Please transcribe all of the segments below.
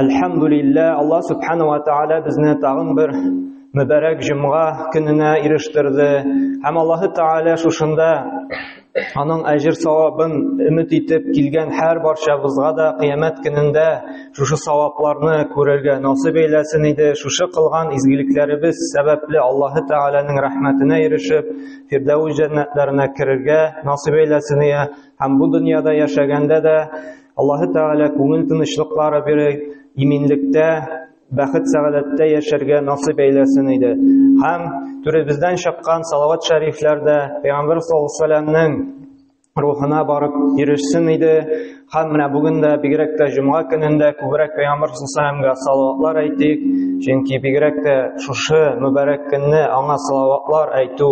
Әлхәмдулиллә, Аллаһ субхана ва тааля безне тагын бер мөбәрәк җомга көненә ирештерде. Һәм Аллаһ тааля шушында аның әҗер савабын өмет итеп килгән һәр барчабызга да кыямәт көнендә шушы савапларны күрергә насыйп әйләсен иде. Шушы кылган изгелекләребез сәбәпле Аллаһ тааляның рәхмәтенә ирешеп, Фирдәүс җәннәтләренә керергә насыйп әйләсен ия. Һәм бу дөньяда яшәгәндә дә Аллаһы Тәгалә күңел тынычлыклары бирә, иминлектә, бәхет сәгадәттә яшәргә насыйп әйләсен иде. Һәм түребездән чыккан салават шәрифләр дә Пәйгамбер саллаллаһу алейһи рухына барып ирешсен иде. Һәм менә бүген дә бигрәк тә җомга көнендә күбрәк Пәйгамбер саллаллаһу салаватлар әйтик, чөнки бигрәк тә шушы мөбарәк көнне аңа салаватлар әйтү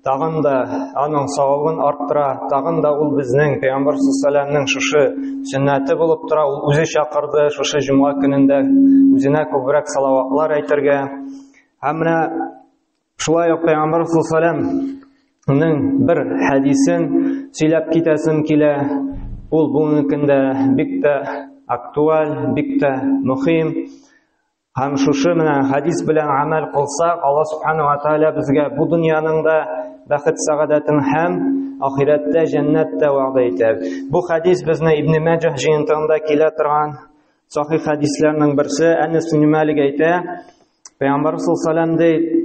тагын да аның савабын арттыра, тагын да ул безнең Пәйгамбәр саллаллаһу шушы сөннәте булып тора, ул үзе чакырды шушы җомга көнендә үзенә күбрәк салаватлар әйтергә. Һәм менә шулай ук Пәйгамбәр саллаллаһуның бер хәдисен сөйләп китәсем килә. Ул бүгенге көндә бик тә актуаль, бик тә мөһим. Һәм шушы менә хадис белән амәл кылсак, Алла субхана ва тааля безгә бу дөньяның да бәхет сәгадәтен һәм ахирәттә җәннәт тә вәгъдә итә. Бу хадис безне Ибн Мәҗәһ җыентыгында килә торган сахи хадисләрнең берсе Әнәс ибн Малик әйтә, Пәйгамбәр саллаллаһу алейһи ди,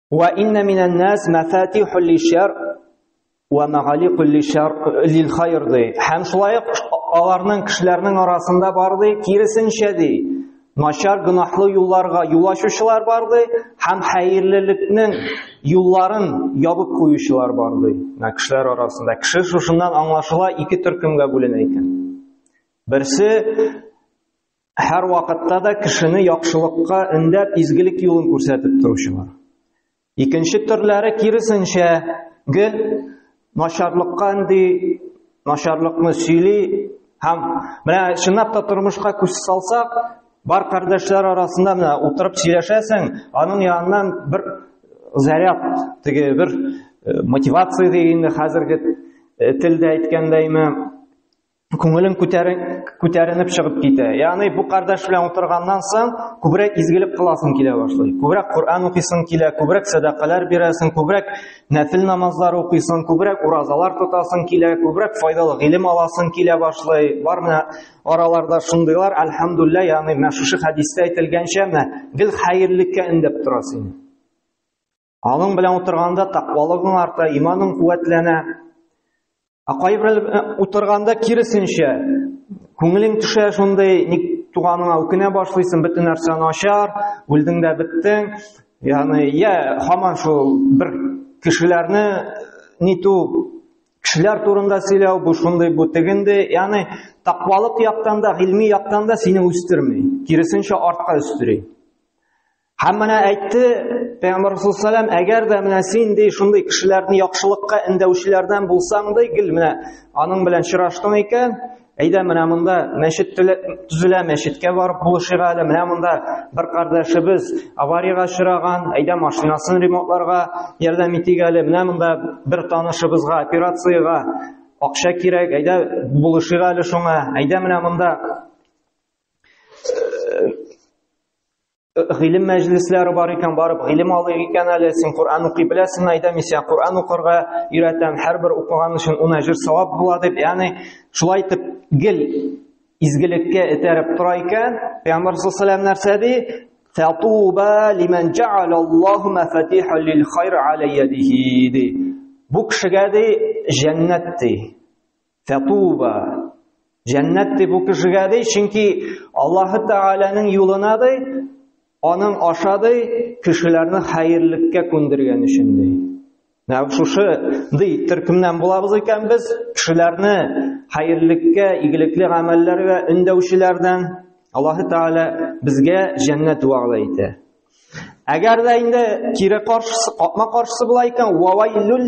Ва инна минан нас мафатиху лишар ва магалику лишар лил хайр ди. Һәм шулай ук аларның кешеләрнең арасында бар ди, киресенчә ди. Начар гынахлы юлларга юл ачучылар бар ди, һәм хәерлелекнең юлларын ябып куючылар бар ди. Менә кешеләр арасында кеше шушыннан аңлашыла ике төркемгә бүленә икән. Берсе һәр вакытта да кешене яхшылыкка өндәп, изгелек юлын күрсәтеп торучылар. Икенче төрләре киресенчә гел начарлыкка инде начарлыкны сөйли һәм менә чынлап та тормышка күз салсак, бар кардәшләр арасында менә утырып сөйләшәсең, аның яныннан бер заряд, теге бер э, мотивация дигәндә хәзерге э, телдә әйткәндәйме, күңелең күтәренеп чыгып китә. Ягъни бу кардәш белән утырганнан соң күбрәк изгелек кыласың килә башлый. Күбрәк Коръән укыйсың килә, күбрәк сәдакалар бирәсең, күбрәк нәфил намазлар укыйсың, күбрәк уразалар тотасың килә, күбрәк файдалы гыйлем аласың килә башлый. Бар менә араларда шундыйлар, альхамдулилла, ягъни менә шушы хәдистә әйтелгәнчә, менә гел хәерлеккә өндәп тора сине. Аның белән утырганда тәкъвалыгың арта, иманың куәтләнә. Ә кайбер э, утырганда киресенчә, күңелең төшә шундый, ник туганыңа үкенә башлыйсың, бөтен нәрсә начар, үлдең дә беттең. Ягъни, я һаман шул бер кешеләрне ниту кешеләр турында сөйләү, бу шундый, бу тегенде, ягъни тәкъвалык яктан да, гыйльми яктан да сине үстерми, киресенчә артка өстери. Һәм менә әйтте Пәйгамбер Расул салам, әгәр дә менә син ди шундый кешеләрне яхшылыкка эндәүчеләрдән булсаң ди, гел менә аның белән чыраштың икән, әйдә менә монда мәчет төзелә, мәчеткә барып булышырга әле, менә монда бер кардәшебез авариягә чыраган, әйдә машинасын ремонтларга ярдәм итик әле, менә монда бер танышыбызга операциягә акча кирәк, әйдә булышырга әле шуңа, әйдә менә монда гыйлем мәҗлесләре бар икән, барып гыйлем алыйк икән әле, син Коръән укый беләсеңме, әйдә мин сиңа Коръән укырга өйрәтәм, һәрбер укыган өчен ун әҗер савап була дип, ягъни шулай итеп гел изгелеккә этәреп тора икән. Пәйгамбәр саллаллаһу алейһи нәрсә ди? Фатуба лиман джа'ал Аллаһу мафатиха лил хайр аля ядихи ди. Бу кешегә ди җәннәт ди. Фәтуба. Җәннәт дип бу кешегә ди, чөнки Аллаһы Тәгаләнең юлына ди, аның аша ди, кешеләрне хәерлеккә күндергән өчен ди. Менә шушы ди, төркемнән булабыз икән без, кешеләрне хәерлеккә, игелекле гамәлләргә өндәүчеләрдән Аллаһы Тәгалә безгә җәннәт вәгъдә итә. Әгәр дә инде кире каршысы, капма каршысы була икән, вавайлюл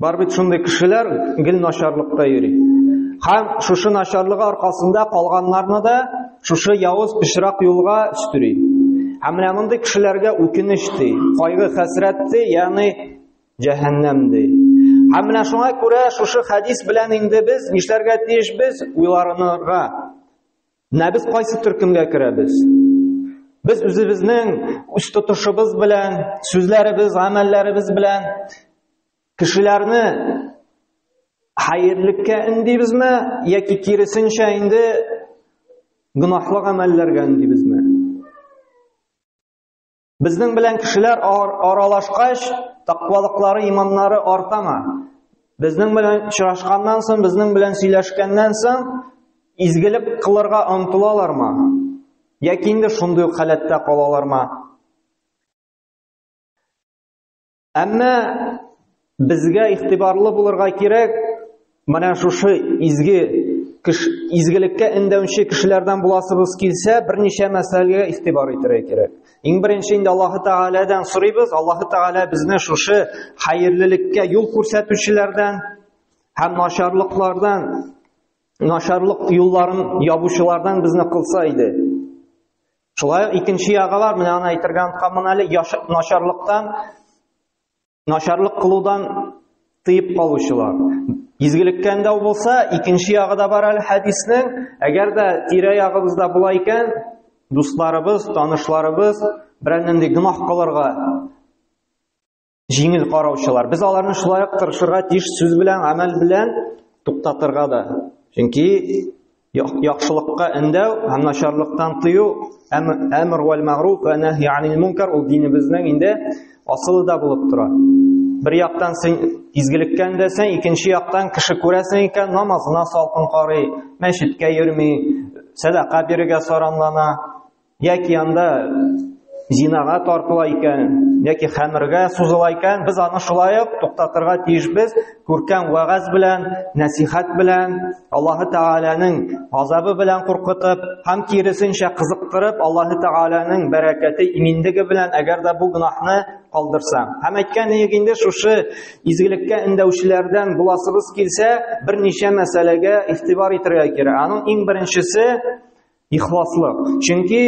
Бар бит шундый кешеләр гел начарлыкта йөри. Һәм шушы начарлыгы аркасында калганнарны да шушы явыз пычрак юлга өстери. Һәм менә мондый кешеләргә үкенеч ди, кайгы хәсрәт ди, ягъни җәһәннәм ди. Һәм менә шуңа күрә шушы хәдис белән инде без нишләргә тиеш без уйларынырга. Менә без кайсы төркемгә керәбез? Без үзебезнең үз тотышыбыз белән, сүзләребез, гамәлләребез белән кешеләрне хәерлеккә үндибезме яки киресенчә инде гөнаһлы гамәлләргә үндибезме? Безнең белән кешеләр аралашкач, тақвалыклары, иманнары артама. Безнең белән очрашканнан соң, безнең белән сөйләшкәннән соң, изгелек кылырга омтылалармы? Яки инде шундый халәттә калалармы? Әмма безгә игътибарлы булырга кирәк, менә шушы изге кеш, изгелеккә эндәүче кешеләрдән буласыбыз килсә, берничә мәсьәләгә игътибар итәргә кирәк. Иң беренче инде Аллаһ Тәгаләдән сорыйбыз, Аллаһ Тәгалә безне шушы хәерлелеккә юл күрсәтүчеләрдән һәм начарлыклардан, начарлык юлларын ябучылардан безне кылса иде. Шулай ук икенче ягалар, менә аны әйтергә онтканмын әле, начарлыктан, начарлык кылудан тыеп калучылар. Изгелектән дә булса, икенче ягы да бар әле хәдиснең, әгәр дә тирә-ягыбызда була икән, дусларыбыз, танышларыбыз берәр нинди гөнаһ кылырга Җиңел караучылар. Без аларны шулай ук тырышырга тиеш сүз белән, гамәл белән туктатырга да. Чөнки яхшылыкка эндәү һәм начарлыктан тыю, әмр вәл мәгъруф ва нәһи анил мункар ул динебезнең инде асылы да булып тора. Бер яктан син изгелеккән дә сен, икенче яктан кеше күрәсең икән, намазына салкын карый, мәчеткә йөрми, сәдака бирергә саранлана. Яки анда зинага тартыла икән, яки хәмергә сузыла икән, без аны шулай ук туктатырга тиешбез. Күркәм вагаз белән, нәсихәт белән, Аллаһы Тәгаләнең азабы белән куркытып, һәм киресенчә кызыктырып, Аллаһы Тәгаләнең бәрәкәте, иминлеге белән, әгәр дә бу гынахны калдырса. Һәм әйткән идек инде, шушы изгелеккә эндәүчеләрдән буласыбыз килсә, берничә мәсьәләгә игътибар итәргә кирәк. Аның иң беренчесе Ихласлык. Чөнки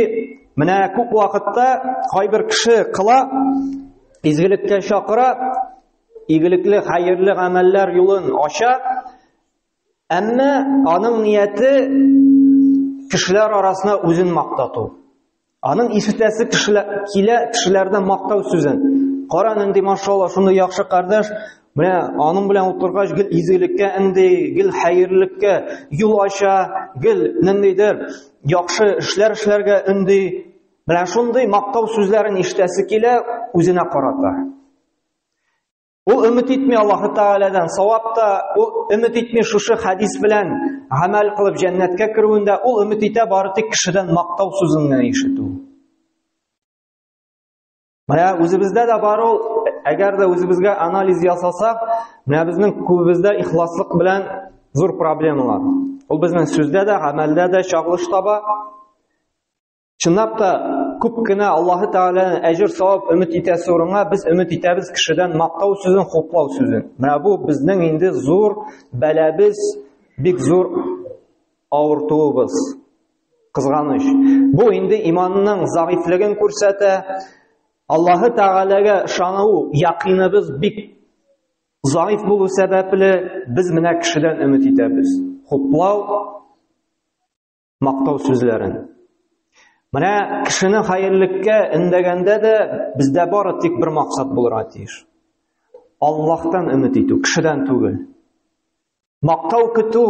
менә күп вакытта кайбер кеше кыла, изгелеккә чакыра, игелекле, хәерле гамәлләр юлын ача, әмма аның нияте кешеләр арасына үзен мактату. Аның ишетәсе кешеләр килә, кешеләрдән мактау сүзен. Кара нинди машалла, шундый яхшы кардәш, Менә аның белән утыргач, гел изгелеккә инде, гел хәерлелеккә юл ача, гел ниндидер яхшы эшләр эшләргә инде. Менә шундый мактау сүзләрен ишетәсе килә үзенә карата. Ул өмет итми Аллаһы Тааладан савап та, ул өмет итми шушы хадис белән гамәл кылып җәннәткә керүендә, ул өмет итә бары тик кешедән мактау сүзен генә ишетү. Менә үзебездә дә бар ул, әгәр дә үзебезгә анализ ясасак, менә безнең күбебездә ихласлык белән зур проблемалар. Ул безнең сүздә дә, гамәлдә дә чагылыш таба. Чынлап та күп кенә Аллаһы Тәгаләнең әҗер савап өмет итәсе урынга без өмет итәбез кешедән мактау сүзен, хуплау сүзен. Менә бу безнең инде зур бәләбез, бик зур авыртуыбыз. Кызганыч, бу инде иманның загыйфлеген күрсәтә. Аллаһы Тәгаләгә ышану якыныбыз бик загыйф булу сәбәпле, без менә кешедән өмет итәбез. Хуплау, мактау сүзләрен. Менә кешене хәерлеккә эндәгәндә дә бездә бары тик бер максат булырга тиеш. Аллаһтан өмет итү, кешедән түгел. Мактау көтү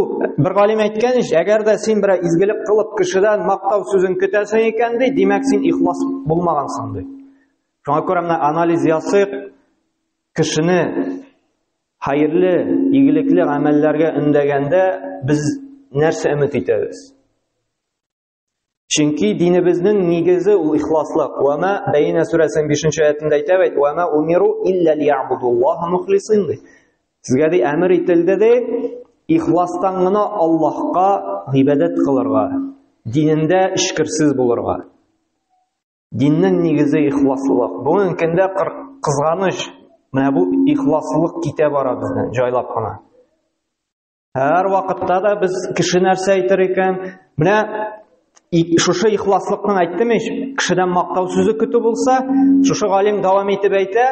бер галим әйткән ич, әгәр дә син берәр изгелек кылып кешедән мактау сүзен көтәсең икән ди, димәк син ихлас булмагансың ди. Шуңа күрә менә анализ ясыйк, кешене хәерле, игелекле гамәлләргә өндәгәндә без нәрсә өмет итәбез? Чөнки динебезнең нигезе ул ихласлык. Ва ма бәйнә сүрәсенең 5-нче аятында әйтә бит, ва ма умиру илля лиябудуллаһа мухлисин. Сезгә ди әмер ителде ди, ихластан гына Аллаһка гыйбадәт кылырга, динендә эчкерсез булырга. Диннең нигезе ихласлык. Бүгенге көндә кызганыч, менә бу ихласлык китә бара бездән җайлап кына. Һәр вакытта да без кеше нәрсә әйтер икән? Менә шушы ихласлыкның әйттем ич, кешедән мактау сүзе көтү булса, шушы галим дәвам итеп әйтә,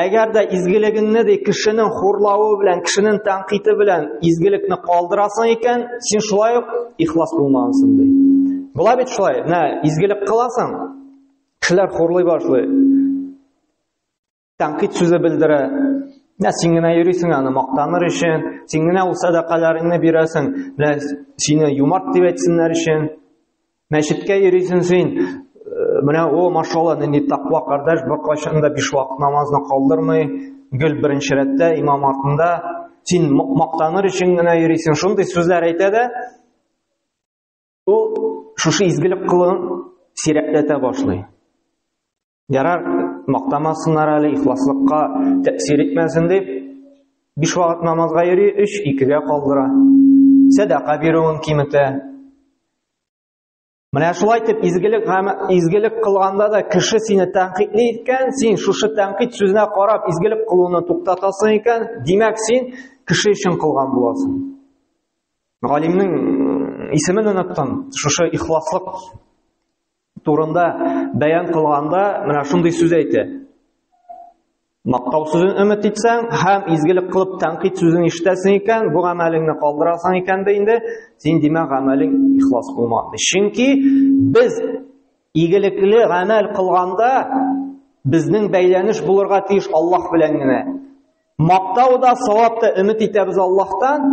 әгәр дә изгелегеңне ди кешенең хурлавы белән, кешенең тәнкыйте белән изгелекне калдырасың икән, син шулай ук ихлас булмагансың ди. Була бит шулай. Менә изгелек кыласың, кешеләр хурлый башлый. Тәнкыйть сүзе белдерә. Менә син генә йөрисең аны мактаныр өчен, син генә ул садакаларыңны бирәсең, менә сине юмарт дип әйтсеннәр өчен. Мәчеткә йөрисең син, э, менә о, машалла, нинди тақва кардәш, беркайчан да биш вакыт намазны калдырмый, гел беренче рәттә имам артында, син мактаныр өчен генә йөрисең. Шундый сүзләр әйтә дә, ул шушы изгелек кылын сирәкләтә башлый. Ярар, мактамасыннар әле, ихласлыкка тәэсир итмәсен дип, биш вакыт намазга йөри, өч икегә калдыра. Сәдака бирүен киметә. Менә шулай итеп изгелек изгелек кылганда да кеше сине тәнкыйтьли икән, син шушы тәнкыйть сүзенә карап изгелек кылуны туктатасың икән, димәк син кеше өчен кылган буласың. Галимнең исемен оныттым, шушы ихласлык турында бәян кылганда менә шундый сүз әйтә. Мактау сүзен өмет итсәң һәм изгелек кылып тәнкыйть сүзен ишетәсең икән, бу гамәлеңне калдырасың икән дә инде, син димә гамәлең ихлас булмады. Чөнки без игелекле гамәл кылганда безнең бәйләнеш булырга тиеш Аллаһ белән генә. Мактау да, савап та өмет итәбез Аллаһтан.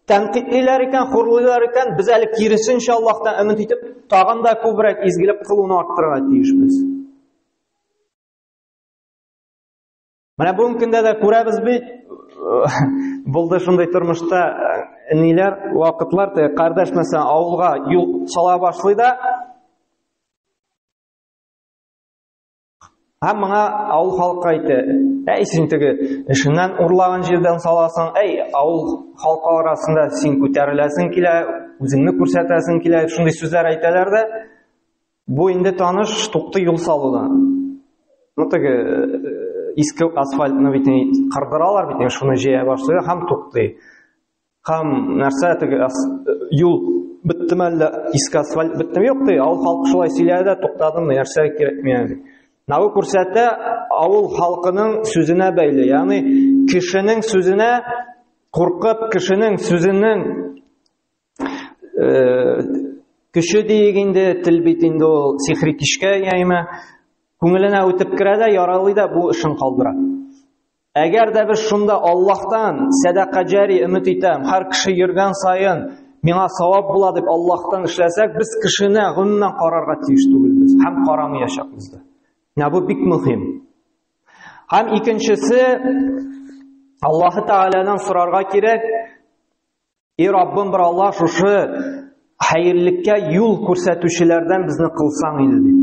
Тәнкыйтьлиләр икән, хурлыйлар икән, без әле киресенчә Аллаһтан өмет итеп, тагын да күбрәк изгелек кылуны арттырырга тиешбез. Менә бүгенге көндә дә күрәбез бит, булды шундый тормышта э, ниләр, вакытлар, те, кардәш мәсәлән, авылга юл сала башлый да, Һәм моңа авыл халкы әйтте, әй син теге эшеннән урлаган җирдән саласың, әй авыл халкы арасында син күтәреләсең килә, үзеңне күрсәтәсең килә, шундый сүзләр әйтәләр дә. Бу инде таныш тукты юл салуда. Ну теге э, иске асфальтны бит кырдыралар бит, шуны җыя башлый һәм тукты. Һәм нәрсә теге юл беттеме әллә иске асфальт беттеме? Юк ди, авыл халкы шулай сөйләде дә туктадым, нәрсә кирәк миңа ди. Нагы күрсәтә авыл халкының сүзенә бәйле, ягъни кешенең сүзенә куркып, кешенең сүзенең э, көче диек инде, тел бит инде ул сихри кишкә яйма, күңеленә үтеп керә дә, яралый да бу эшен калдыра. Әгәр дә без шунда Аллаһтан сәдака җари өмет итәм, һәр кеше йөргән саен миңа савап була дип Аллаһтан эшләсәк, без кешене гомумән карарга тиеш түгелбез һәм карамаячакбыз да. Менә бу бик мөһим. Һәм икенчесе Аллаһ Тәгаләдән сорарга кирәк, И Раббым бер Алла шушы хәерллеккә юл күрсәтүчеләрдән безне кылсаң иде дип.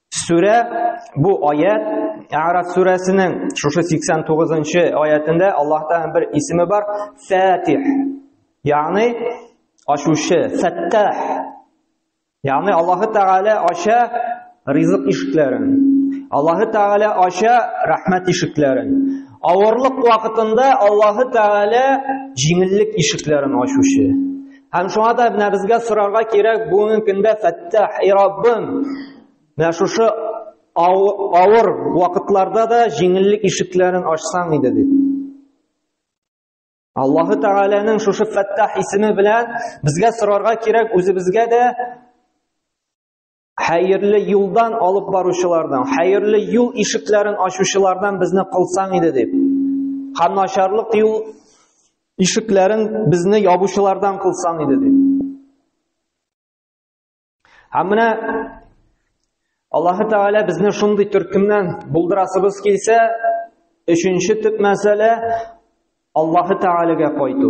Сүрә бу аят Араф сүрәсенең шушы 89 нчы аятында Аллаһ Тәгаләнең бер исеме бар, Фатих. Ягъни ашучы, Фаттах. Ягъни Аллаһ Тәгалә аша ризык ишекләрен. Аллаһ Тәгалә аша рәхмәт ишекләрен. Авырлык вакытында Аллаһ Тәгалә җиңеллек ишекләрен ачучы. Һәм шуңа да менә безгә сорарга кирәк бүгенге көндә Фәттах, и Раббым, менә шушы авыр вакытларда да җиңеллек ишекләрен ачсаң иде дип. Аллаһы Тәгаләнең шушы Фәттах исеме белән безгә сорарга кирәк үзебезгә дә Хәерле юлдан алып баручылардан, хәерле юл ишекләрен ачучылардан безне кылсаң иде дип. Һәм начарлык юл ишекләрен безне ябучылардан кылсаң иде дип. Һәм менә Аллаһ Тәгалә безне шундый төркемнән булдырасыбыз килсә, өченче төп мәсьәлә Аллаһ Тәгаләгә кайту.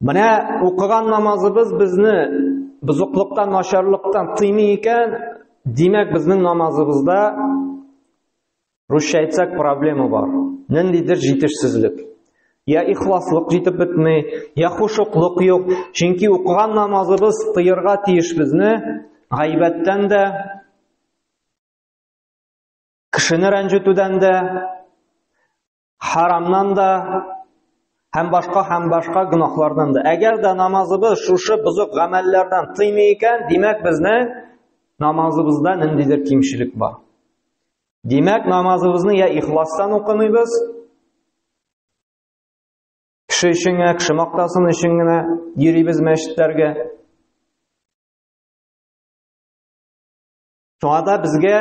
Менә укыган намазыбыз безне бозыклыктан, начарлыктан тыймый икән, димәк безнең намазыбызда русча әйтсәк проблема бар. Ниндидер җитешсезлек. Я ихласлык җитеп бетми, я хушуклык юк. Чөнки укыган намазыбыз тыерга тиеш безне гайбәттән дә, кешене рәнҗетүдән дә, Харамнан да һәм башка һәм башка гөнаһлардан да. Әгәр дә намазыбыз шушы бозык гамәлләрдән тыймый икән, димәк безнең намазыбызда ниндидер кимчелек бар. Димәк, намазыбызны я ихластан укымыйбыз, кеше өчен генә, кеше мактасын өчен генә йөрибез мәчетләргә. Шуңа да безгә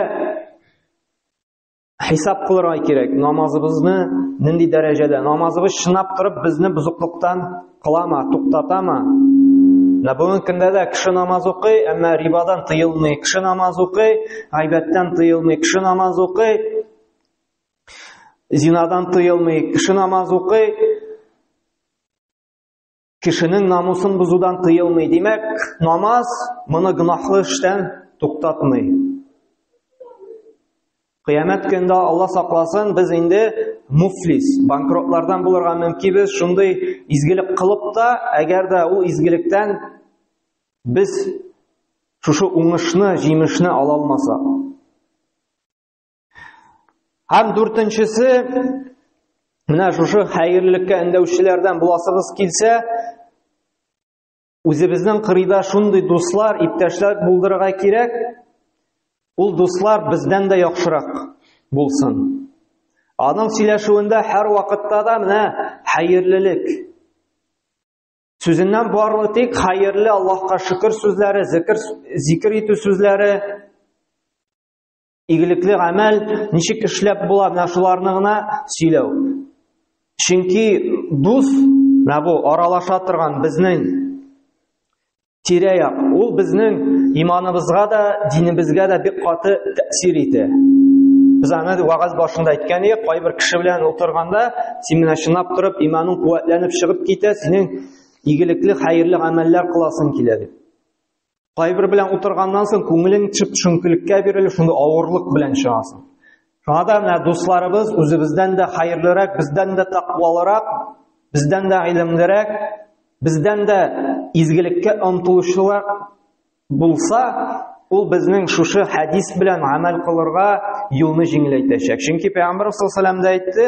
хисап кылырга кирәк намазыбызны нинди дәрәҗәдә намазыбыз чынлап торып безне бозыклыктан кылама туктатама менә бүгенге көндә дә кеше намаз укый әмма рибадан тыелмый кеше намаз укый гайбәттән тыелмый кеше намаз укый зинадан тыелмый кеше намаз укый Кешенең намусын бозудан тыелмый. Димәк, намаз моны гынахлы эштән туктатмый. Кыямәт көндә Алла сакласын, без инде муфлис, банкротлардан булырга мөмкинбез. Шундый изгелек кылып та, әгәр дә ул изгелектән без шушы уңышны, җимешне ала алмасак. Һәм дүртенчесе, менә шушы хәерлелеккә өндәүчеләрдән буласыгыз килсә, үзебезнең кырыйда шундый дуслар, иптәшләр булдырырга кирәк. Ул дуслар бездән дә яхшырак булсын. Аның сөйләшүендә һәр вакытта да менә хәерлелек. Сүзеннән барлы тик хәерле Аллаһка шөкер сүзләре, зикр, зикр итү сүзләре, Игелекле гамәл ничек эшләп була, менә шуларны гына сөйләү. Чөнки дус, менә бу аралаша торган безнең тирә-як, ул безнең иманыбызга да, динебезгә дә бик каты тәэсир итә. Без аны вагаз башында әйткән идек, кайбер кеше белән утырганда, син менә чынлап торып, иманың куәтләнеп чыгып китә, синең игелекле, хәерле гамәлләр кыласың килә дип. Кайбер белән утырганнан соң күңелең чып шөңкелеккә бирелеп, шундый авырлык белән чыгасың. Шуңа да менә дусларыбыз үзебездән дә хәерлерәк, бездән дә тәкъвалырак, бездән дә гыйлемлерәк, бездән дә изгелеккә омтылучылар булса, ул безнең шушы хәдис белән гамәл кылырга юлны җиңеләйтәчәк. Чөнки Пәйгамбәр саллаллаху алейһи әйтте,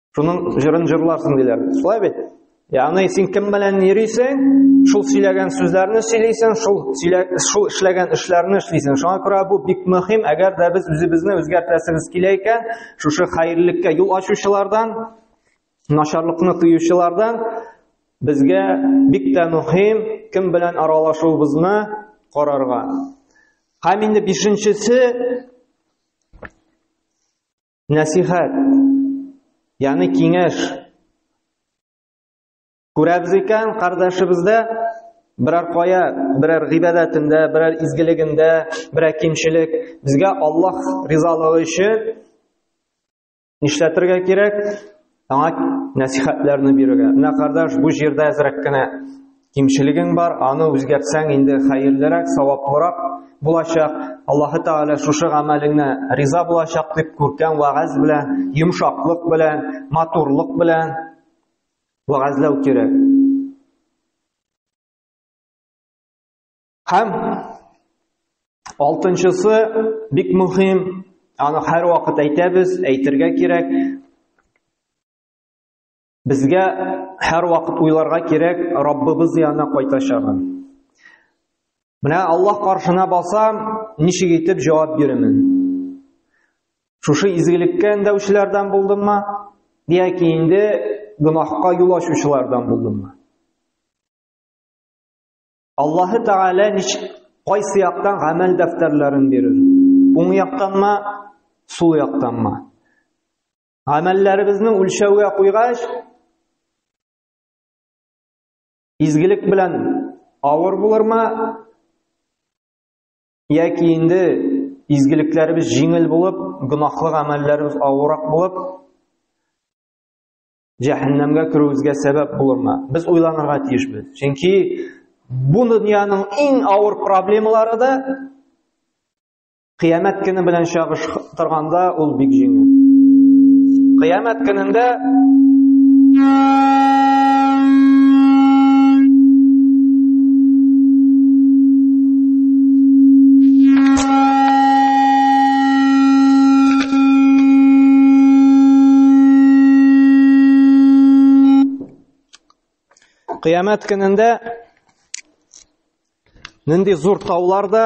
Шуның җырын җырларсың диләр. Шулай бит? Ягъни син кем белән йөрисең, шул сөйләгән сүзләрне сөйлисең, шул шул эшләгән эшләрне эшлисең. Шуңа күрә бу бик мөһим, әгәр дә без үзебезне үзгәртәсебез килә икән, шушы хәерлелеккә юл ачучылардан, начарлыкны тыючылардан безгә бик тә мөһим кем белән аралашуыбызны карарга. Һәм инде бишенчесе Нәсихәт, яны киңәш. Күрәбез икән, кардәшебездә берәр кая, берәр гыйбадәтендә, берәр изгелегендә, берәр кимчелек, безгә Аллаһ ризалыгы өчен нишләтергә кирәк? Аңа нәсихәтләрне бирергә. Менә кардаш, бу җирдә әзрәк кенә кимчелегең бар, аны үзгәртсәң инде хәерлерәк, саваплырак булачак. Аллаһы Тәгалә шушы гамәлеңне риза булачак дип күркәм вагаз белән, йомшаклык белән, матурлык белән вагазлау кирәк. Һәм алтынчысы бик мөһим, аны һәр вакыт әйтәбез, әйтергә кирәк. Безгә һәр вакыт уйларга кирәк Раббыбыз янына кайтачагын. Менә Аллаһ каршына басам, ничек итеп җавап бирәмен? Шушы изгелеккә эндәүчеләрдән булдыммы? Яки инде гөнаһка юл ачучылардан булдыммы? Аллаһы Тәгалә ничек кайсы яктан гамәл дәфтәрләрен бирер? Уң яктанмы, сул яктанмы? Гамәлләребезне үлчәүгә куйгач, изгелек белән авыр булырмы? Яки инде изгелекләребез җиңел булып, гөнаһлы гамәлләребез авырак булып, җәһәннәмгә керүебезгә сәбәп булырмы? Без уйланырга тиешбез. Чөнки бу дөньяның иң авыр проблемалары да кыямәт көне белән чагыштырганда ул бик җиңел. Кыямәт көнендә Кыямәт көнендә нинди зур таулар да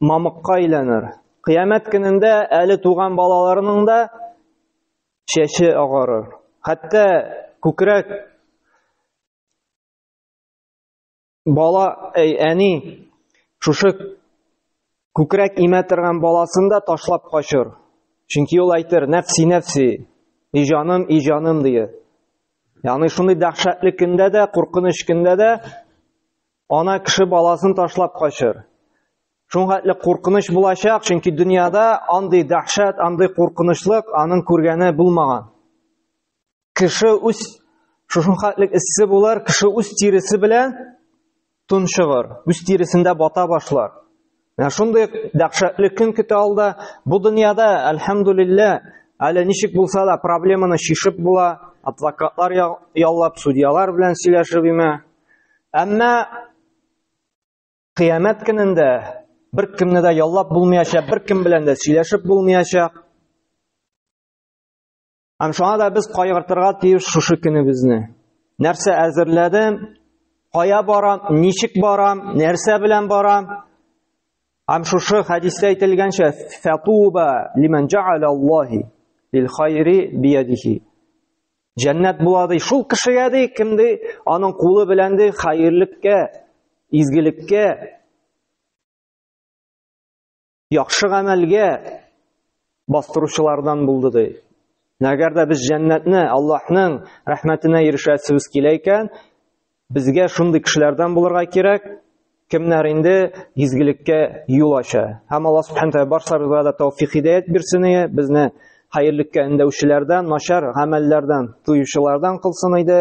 мамыкка әйләнер. Кыямәт көнендә әле туган балаларының да чәче агарыр. Хәтта күкрәк Бала, әй, әни, шушы күкрәк имә торган баласын да ташлап качыр. Чөнки ул әйтер, нәфси, нәфси, и җаным, и җаным, дие. Яны шундый дәхшәтле көндә дә, куркыныч көндә дә ана кеше баласын ташлап качыр. Шуңгатле куркыныч булачак, чөнки дөньяда андый дәхшәт, андый куркынычлык аның күргәне булмаган. кеше үз шушын хәтлек эссе булар, кеше үз тиресе белән тончыгыр, үз тиресендә бата башлар. Менә шундый дәһшәтле көн көтә алда. Бу дөньяда, әлхәмдулилла, әле ничек булса да проблеманы шишеп була, адвокатлар яллап, судьялар белән сөйләшеп имә. Әмма кыямәт көнендә бер кемне дә яллап булмаячак, бер кем белән дә сөйләшеп булмаячак. Һәм шуңа да без кайгыртырга тиеш шушы көнебезне. Нәрсә әзерләдем? Кая барам? Ничек барам? Нәрсә белән барам? Һәм шушы хәдистә әйтелгәнчә, фатуба лиман жа'ала Аллахи лил хайри биядихи. Җәннәт була ди шул кешегә ди, кем ди, аның кулы белән ди хәерлеккә, изгелеккә яхшы гамәлгә бастыручылардан булды ди. Әгәр дә без җәннәтне Аллаһның рәхмәтенә ирешәсебез килә икән, безгә шундый кешеләрдән булырга кирәк, кемнәр инде изгелеккә юл ача. Һәм Аллаһ субханә тәгалә барсабызга да тәүфик хидәят бирсен иде, безне хәерлеккә өндәүчеләрдән, начар гамәлләрдән тыючылардан кылсын иде.